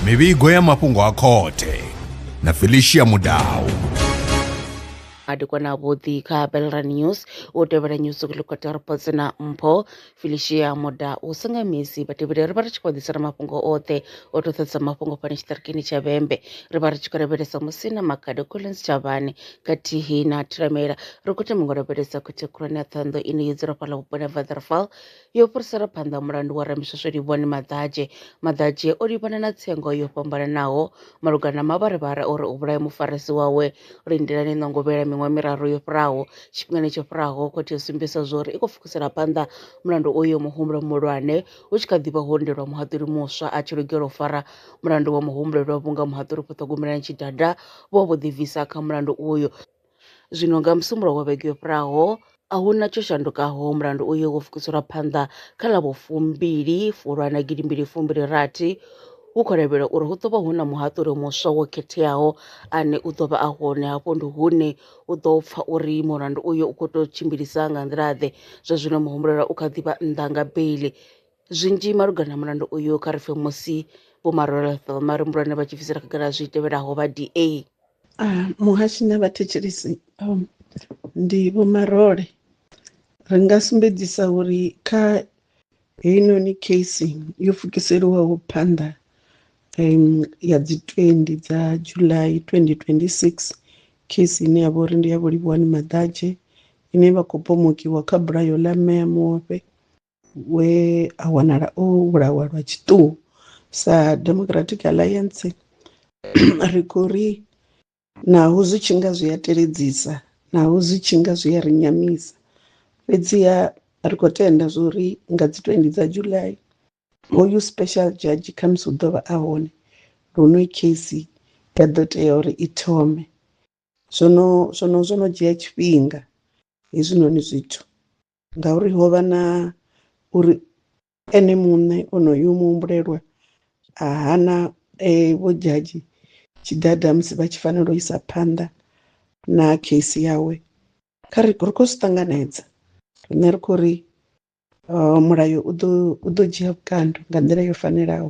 mivhigo ya mafhungo a khothe na felicia mudau madekwana avhuḓi kha belra news u tevhela news kulikota reports na mpho felicia moda u senga misi vhatevheli ri vha ri tshi khou ḓisela mafhungo oṱhe o to ṱhadza mafhungo fhano tshiṱirikini tsha vhembe ri vha ri tshi khou lavhelesa musi na makade collins tshavhani khathihi na thiramela ri khou thoma ngo lavhelesa khothe khulwane ya ṱhondo ine yo dzula fhala vhuponi ha vatherfall yo fhirisela phanḓa mulandu wa Ramiswesweli Vhoni Maḓadzhe. Maḓadzhe o livhana na tsengo yo fhambananaho malugana na mavharivhari a uri u vhulaye mufarisi wawe Lindelani Nongovhela miṅwaha miraru yo fhiraho. Tshifhingani tsho fhiraho, khothe yo sumbedzisa zwauri i khou pfukisela phanḓa mulandu uyo muhumbulo muhulwane, hu tshi kha ḓi vha ho ndelwa muhaṱuli muswa a tshi lugela u fara mulandu wa muhumbulelwa vhunga muhaṱuli Phoṱhogomelani Tshidada vho vho ḓibvisa kha mulandu uyo. Zwino nga Musumbuluwo wa vhege yo fhiraho, a hu na tsho shandukaho, mulandu uyo wo pfukiselwa phanḓa kha ḽa vhufumbili Fulwana gidimbili fumbili rathi. Hu khou lavhelelwa uri hu ḓo vha hu na muhaṱuli muswa wo khetheaho ane u ḓo vha a hone. Hafho ndi hune u ḓo pfa uri mulandu uyo u khou tou tshimbilisa nga nḓila-ḓe. Zwa zwino muhumbulelwa u kha ḓi vha nnḓa nga beiḽi. Zwinzhi malugana na mulandu uyu kha ri pfe musi Vho Maroleth vha marimbulwane vha tshi bvisela khagala zwi tevhelaho vha DA. Muhashi na vhathetshelesi ndi Vho Marole. Ri nga sumbedzisa uri kha heinoni case yo pfukiseliwaho phanḓa ya dzi 20 dza July 2026, case ine ya vha uri ndi ya Vho Livhuwani Maḓadzhe ine vha khou pomokiwa kha bulayo ḽa Mme a Muofhe, we a wanala o vhulawa lwa tshiṱuhu sa democratic alliance ri khou ri naho zwi tshi nga zwi a teledzisa naho zwi tshi nga zwi a ri nyamisa fhedziha ri khou tenda zwo ri nga dzi 20 dza july hoyu special judge khamusi u ḓo vha a hone lune case ya ḓo tea uri i thome zwono zwono zwo no dzhia tshifhinga hezwinoni zwithu ngauri ho vha na uri ene muṋe onoyu muhumbulelwa a hana eh, vho dzhadzhi tshiḓaḓa musi vha tshi fanela u isa phanḓa na case yawe kha ri ri khou zwi ṱanganedza riṋe ri khou ri eh, mulayo u ḓo dzhia vhukando nga nḓila yo fanelaho